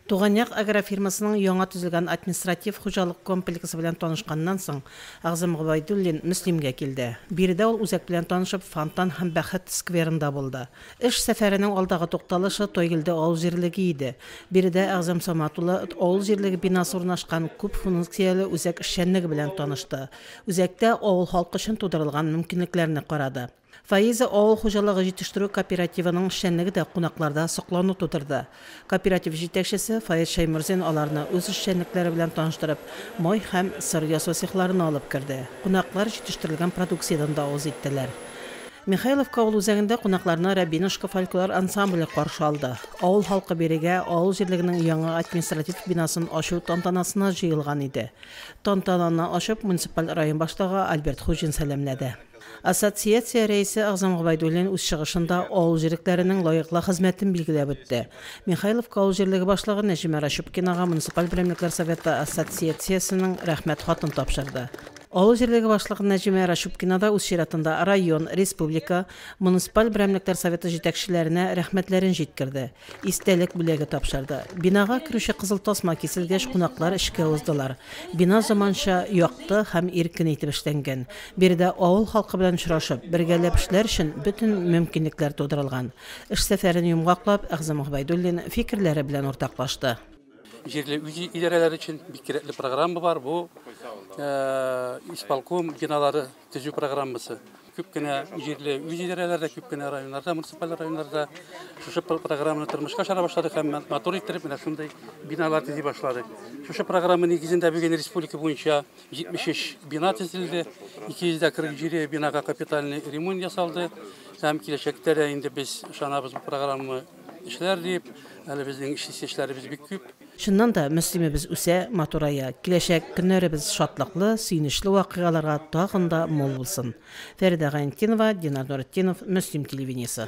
Туганъяк агрофирмасының яңа төзелгән административ-хуҗалык комплексы белән танышканнан соң, Әгъзам Гобәйдуллин Мөслимгә килде. Биредә ул үзәк белән танышып, фонтан һәм Бәхет скверында булды. Эш сәфәренең алдагы тукталышы Тойгелде авыл җирлеге иде. Биредә Әгъзам Самат улы авыл җирлеге бинасы урнашкан күп функцияле үзәк эшчәнлеге белән танышты. Үзәктә авыл халкы өчен тудырылган мөмкинлекләрне карады. Фаиза авыл хуҗалыгы җитештерү кооперативының эшчәнлеге дә кунакларда соклану тудырды. Кооператив җитәкчесе Фаиз Шәйморзин аларны үз эшчәнлекләре белән таныштырып, май һәм сыр ясау цехларына алып керде. Кунаклар җитештерелгән продукциядән дә авыз иттеләр. Михайловка авыл үзәгендә кунакларны Рябинушка фольклор ансамбле каршы алды. Авыл халкы бирегә авыл җирлегенең яңа административ бинасын ачу тантанасына җыелган иде. Тантананы ачып, муниципаль район башлыгы Альберт Хуҗин сәламләде. Ассоциация рәисе Әгъзам Гобәйдуллин үз чыгышында авыл җирлекләренең лаеклы хезмәтен билгеләп үтте. Михайловка авыл җирлеге башлыгы Нәҗимә Рачупкинага муниципаль берәмлекләр советы ассоциациясенең Рәхмәт хатын тапшырды. Авыл җирлеге башлыгы Нәҗимә Рачупкина да үз чиратында район, республика, муниципаль берәмлекләр советы җитәкчеләренә рәхмәтләрен җиткерде. Истәлек бүләге тапшырды. Бинага керүче кызыл тасма киселгәч, кунаклар эчкә уздылар. Бина заманча, якты һәм иркен итеп эшләнгән. Биредә авыл халкы белән очрашып, бергәләп эшләр өчен бөтен мөмкинлекләр тудырылган. Эш сәфәрен йомгаклап, Әгъзам Гобәйдуллин фикерләре белән уртаклашты. Җирле үзидарәләр өчен бик кирәкле программа бар, бу исполком биналары. төзү программасы. Күп кенә җирле үз идарәләрдә, күп кенә районнарда, муниципаль районнарда шушы программаны тормышка ашара башладык һәм матур иттереп менә шундый биналар төзи башладык. Шушы программа нигезендә бүген республика буенча 73 бина төзелде, 247 бинага капитальный ремонт ясалды һәм киләчәктә дә инде без ышанабыз бу программа эшләр дип, әле безнең эшләребез бик күп. Чыннан да, Мөслимебез үсә, матурая. Киләчәк көннәребез шатлыклы, сөенечле вакыйгаларга тагын да мул булсын. Фәридә Гайнтдинова, Динар Нуретдинов, Мөслим телевидениесе.